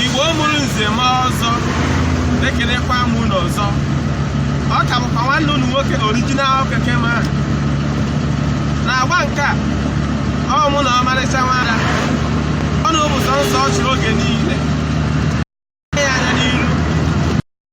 igbo mụrụ nze ma ọzọ ekelekwa m unu ọzọ ọ ka bụkwa nwanne unu nwoke original keke man na agba nke a ọ mụ na ọmarịcha nwada ọnụ bụ sọnsọ ọchị oge niile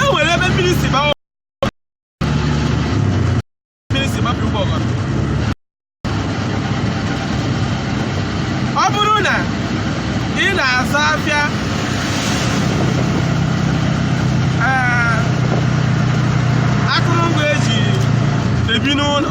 e nwere ebe mmiri si baa mmiri si baa opi ụgbọgọrọ ọ bụrụ na ị na-azụ afịa ee, akụrụngwa eji ebi n'ụlọ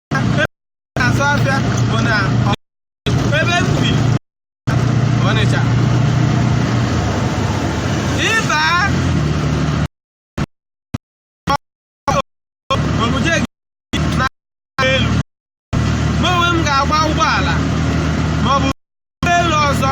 na-azụ afịa bụ na ebe m bi Ọnịcha ị baa o buje gị na elu mụ onwe m ga-agba ụgbọala maọbụ ụgbọelu ọzọ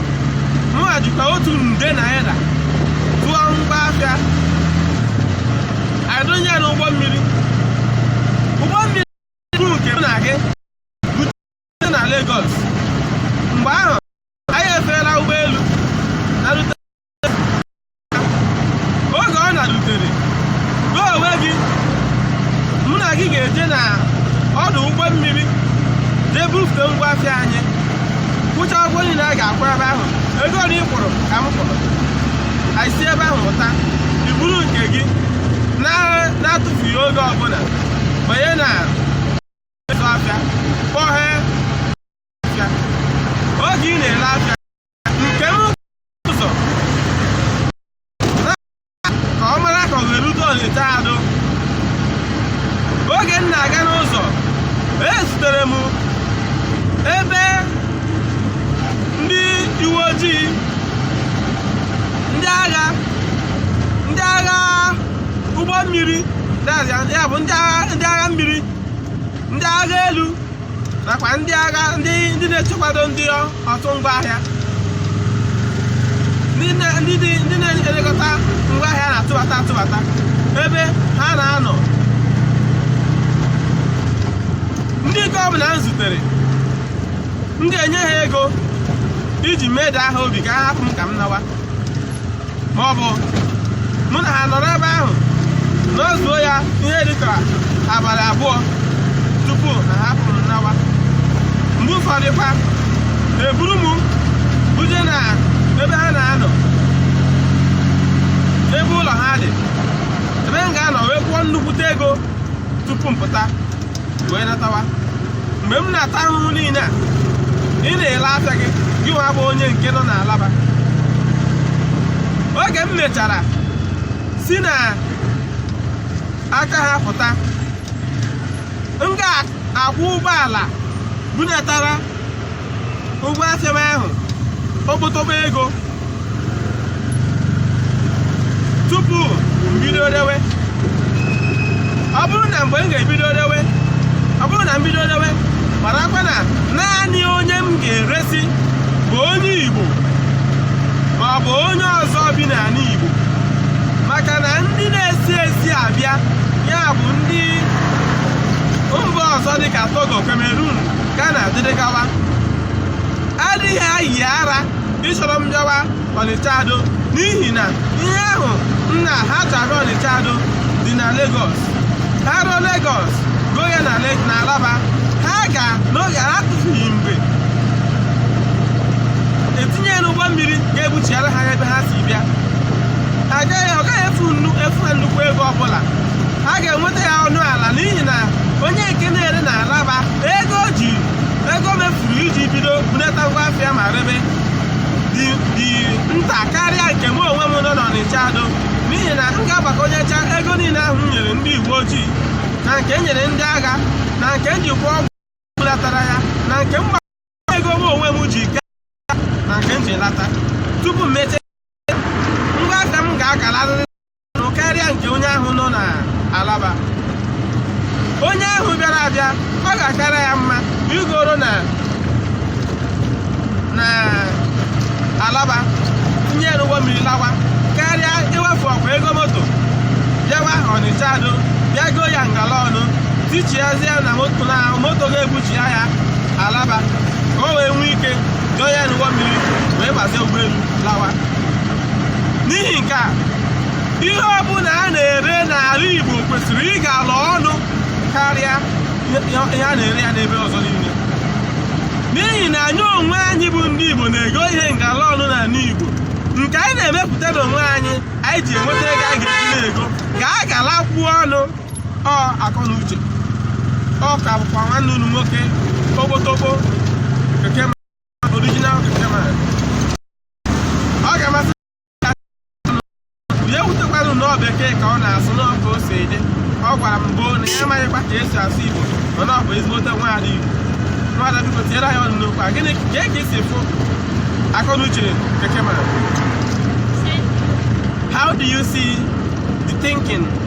mụnwa jikwa otu nde naira tụọ ngwa afịa adụnye ya n'ụgbọ mmiri ụgbọ mmiri bụ nke m na gị bute na Lagos mgbe ahụ anyị efeela ụgbọelu na rute oge ọ na-erutere gị onwe gị mụ na gị ga-eje na ọdụ ụgbọ mmiri jee bufute ngwa afịa anyị kwụcha ụgwọ niile a ga-akwụ ebe ahụ ego ole ị kwụrụ ka m kwụrụ anyị si ebe ahụ pụta i buru nke gị na- na-atụfughị oge ọbụla banye na ịzụ afịa kpọghee afịa oge ị na-ele afịa nke m ụzọ ka ọ mara ka o were udo olite adụ oge m na-aga n'ụzọ ezutere m ebe ndị uwe ojii ndị agha ndị agha ụgbọ mmiri ya bụ ndị agha mmiri ndị agha elu nakwa ndị agha ndị ndị na-echekwado ndị ọtụ ngwa ahịa ndị na-elekọta ngwa ahịa na-atụbata atụbata ebe ha na-anọ ndị nke ọbụla m zutere m ga-enye ha ego iji medaa ha obi ka ha hapụ m ka m nawa ma ọ bụ mụ na ha nọrọ ebe ahụ nọzuo ya ihe dịka abalị abụọ tupu na ha pụrụ nawa mgbe ụfọdụkwa eburu m buje na ebe ha na-anọ ebe ụlọ ha dị ebe m ga-anọ wee kwụọ nnukwute ego tupu m pụta wee natawa mgbe m na-ata ahụhụ niile a ị na-ele afịa gị gị nwa bụ onye nke nọ n'Alaba oge m mechara si na aka ha pụta m ga-akwụ ụgbọala bunatara ngwa afịa m ahụ okpotokpo ego tupu m bido rewe ọ bụrụ na mgbe m ga-ebido rewe ọ bụrụ na m bido rewe marakwa na naanị onye m ga-eresi bụ onye Igbo ma ọ bụ onye ọzọ bi n'ala Igbo maka na ndị na-esi ezi abịa ya bụ ndị mba ọzọ dịka Togo Cameroon Ghana dịrị gawa adịghị ayị ara ịchọrọ m bịawa Ọnịcha Ado n'ihi na ihe ahụ nna ha chara Ọnịcha Ado dị na Lagos ha ruo Lagos goo ya na Alaba ha ga n'oge ha tụfughị mgbe etinye ya n'ụgbọ mmiri ga-ebuchiara ha ya ebe ha si bịa ha agaghị ọ gaghị efu ha nnukwu ego ọbụla ha ga-enweta ya ọnụ ala n'ihi na onye nke na-ere na Alaba ego o ji ego o mefuru iji bido bunata ngwa afịa ma rebe dị dị nta karịa nke mụ onwe m nọ n'Ọnịcha Ado n'ihi na m ga-agbakonyecha ego niile ahụ m nyere ndị uwe ojii na nke m nyere ndị agha na nke m ji kwụọ ụgbọ bulatara ya na nke m ego m onwe m ji gaa na nke m ji lata tupu m mete ngwa afịa m ga-agalarịrị ọnụ karịa nke onye ahụ nọ na Alaba onye ahụ bịara abịa ọ ga-akara ya mma igoro ya na Alaba tinye ya n'ụgbọ mmiri lawa karịa iwefụkwa ego moto bịawa Ọnịcha Ado bịa goo ya ngala ọnụ tichiazie na moto na moto ga-ebuchi bịa ya Alaba ka o wee nwee ike doo ya n'ụgbọ mmiri wee gbazie ụgbọelu lawa n'ihi nke a ihe ọbụla a na-ere n'ala Igbo kwesịrị ịgala ọnụ karịa ihe a na-ere ya n'ebe ọzọ niile n'ihi na anyị onwe anyị bụ ndị Igbo na-ego ihe ngala ọnụ n'ala Igbo nke anyị na-emepụta n'onwe anyị anyị ji enweta ego a ga-eji na-ego ga-agalakwuo ọnụ ọ akọ na uche ọ ka bụkwa nwanne unu nwoke togbotobo keke original keke ma ọ ga-amasị ya ewutekwala unu na ọ bekee ka ọ na-asụ na ọ ka o si dị ọ gwara m gboo na ya amaghịkwa ka e si asụ Igbo mana ọ bụ ezigbote nwaada Igbo nwaada biko tinyere anyị ọnụ n'okwu a gịnị kee ka i si fụ akọ na uche keke ma how do you see the thinking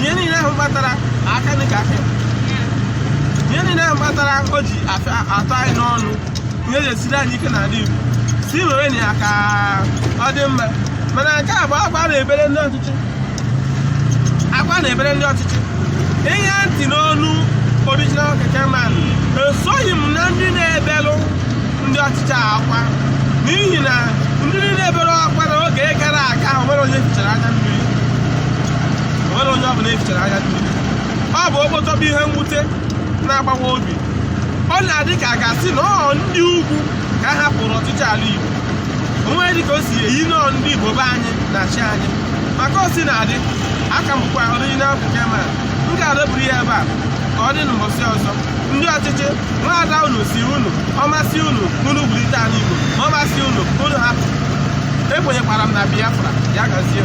ihe niile ahụ kpatara aka dị ka aka ihe niile ahụ kpatara o ji afịa atọ anyị n'ọnụ ihe ji esiri anyị ike n'ala Igbo si were na ya ka ọ dị mma mana nke a bụ akwa na-ebere ndị ọchịchị akwa na-ebere ndị ọchịchị ịṅa ntị n'onu original keke man esoghị m na ndị na-ebelụ ndị ọchịchị akwa n'ihi na ndị na-ebere akwa na oge gara aga ahụ nwere onye e fichara anya mmiri o nwere onye ọbụla e fichara anya mmiri ọ bụ okpotokpo ihe mwute na-agbawa obi ọ na-adị ka a ga-asị na ọ ndị ugwu ka a hapụrụ ọchịchị ala Igbo o nwedịghị ka o si eyi na ọ ndị Igbo be anyị na-achị anyị maka o si na-adị a ka m bụkwa original keke man m ga-adọburu ya ebe a ka ọ dị n'ụbọchị ọzọ ndị ọchịchị na-agwa unu sị unu ọ masị unu unu bulite ala Igbo ma ọ masị unu unu hapụ ekwenyekwara m na Biafra ya gazie